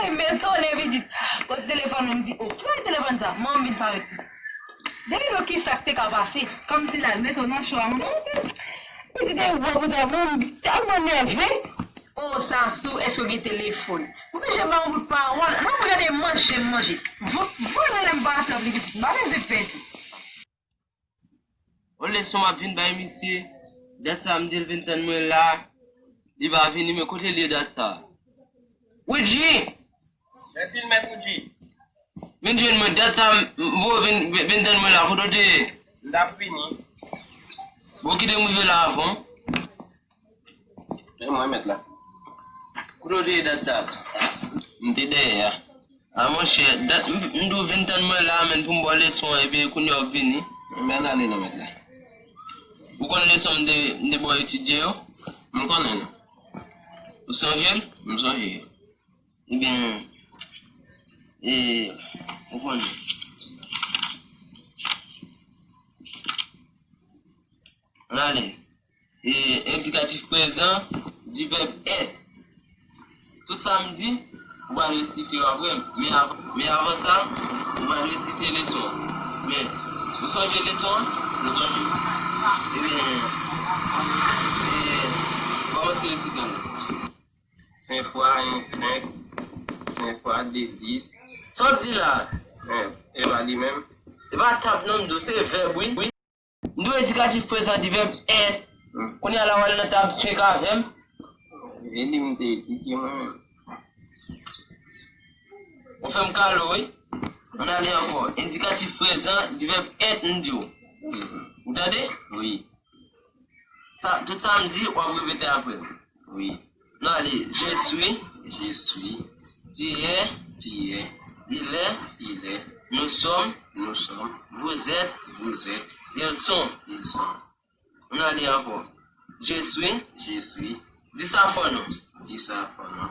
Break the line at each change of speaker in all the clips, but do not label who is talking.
Hey men tonnè pitit! Kot telefòn mwen m di oh kibay telefòn sa? Manman m vin parèt pitit. Gade non kisak te ka pase. Kòmsi lal mete w
nan cho a manman m di.
Pitit e wè pou tèt manman m di tèlman nève. Oh Sasou èske w gen telefòn? Ou bije banm bout pawòl. Nan m gade manje m manje. Vant mwen lèm pa atanpli pitit m pa bezwen pè tou.
On leson map vin bay misye, dat sa mdil vin tann mwen la, li pa vini men kotel ye dat sa. Woodji! Mèsi
mèt Woodji. Vin jwenn
mwen dat sa mvoye vin vin tann mwen la kote w te ye? Mtap vini. Bon kitem rive la avan w.
E mwen met la. Kote
w te ye dat sa? M te dèyè a. A monchè, dat m di w vin tann mwen la a menn pou m ba w leson an epi kounye a w ap vini. Enben ann ale non mèt
la. Ou
konn leson m te m te ba w etidye yo? M konnen yo. Ou sonje l? M sonje yo. Enben, e ou konn. Ann ale. E endikatif prezan di vèb èt. Tout sa m di, ou pral resite yo apre m. Men avan sa, ou pral resite leson an. Men, ou sonje leson an? Ou sonje l? Ebyen, kòmanse resite l la. Senk
fwa yen senk. Senk fwa de dis. Sa w di la
a? E pa
li menm? E pa tab non,
m di w. Se vèb wi. M dwe edikatif prezan di vèb 1. Kounye a la w ale nan tab 5 avè m. Vye liv m te etidye
mwen menm. Ou
fè m kado wi. An n ale ankò. Edikatif prezan di vèb 1 m di w. Ou tande? Wi. Tout sa m di, w ap repete apre m. Wi.
Nan li,
Je swi, Je swi, Tu yè, Tu yè,
Il lè, Il lè,
Nou sòm, Nou sòm, Vou zèt, Vou zèt, Il son, Il son. Nan li ankò, Je swi, Je swi, Di sa fò non, Di sa fò non.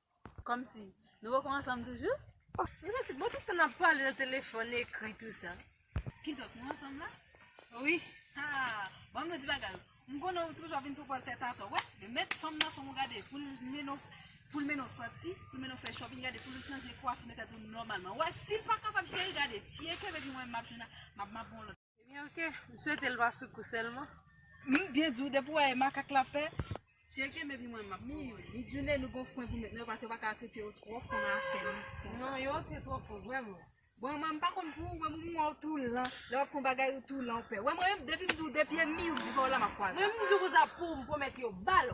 Kòmsi,
nou poko ansanm toujou? Mwen santi bon tout
tan nap pale nan telefòn, ekri tou sa. Kidonk nou
ansanm la? Wi.
Haa!
Banm nou di bagay ou. M konnen ou toujou ap vin poupòl tèt atò. Wè, yo met fanm nan fòm ou gade poul mennen w, poul mennen w sòti, poul mennen w fè shopping gade poul chanje kwafi, mete tèt ou nòmalman. Wè, sil pa kapab cheri gade, tiye kenbe epi mwen menm map jwenn, map map bon lòt. Ebyen ok, m
swete l pa sou kou sèlman. M byen di w
depi w wè e makak l ap fè. Cheri kenbe pi mwen m ap mouri. Li di w Nene gon fren pou w met nan yo paske yo pa ka atrete yo twò fon nan afè m konsa. Non yo antre twò fon
vrèman. Bon man m pa konn
pou ou men m m wè w tou lan. Lè w ap fon bagay ou tou lan ou pè. Wè mwen menm depi m di w de pye m mi ou m di pa w la m ap kwaze. Mwen menm m di w konsa pou m
pwomèt yo bal.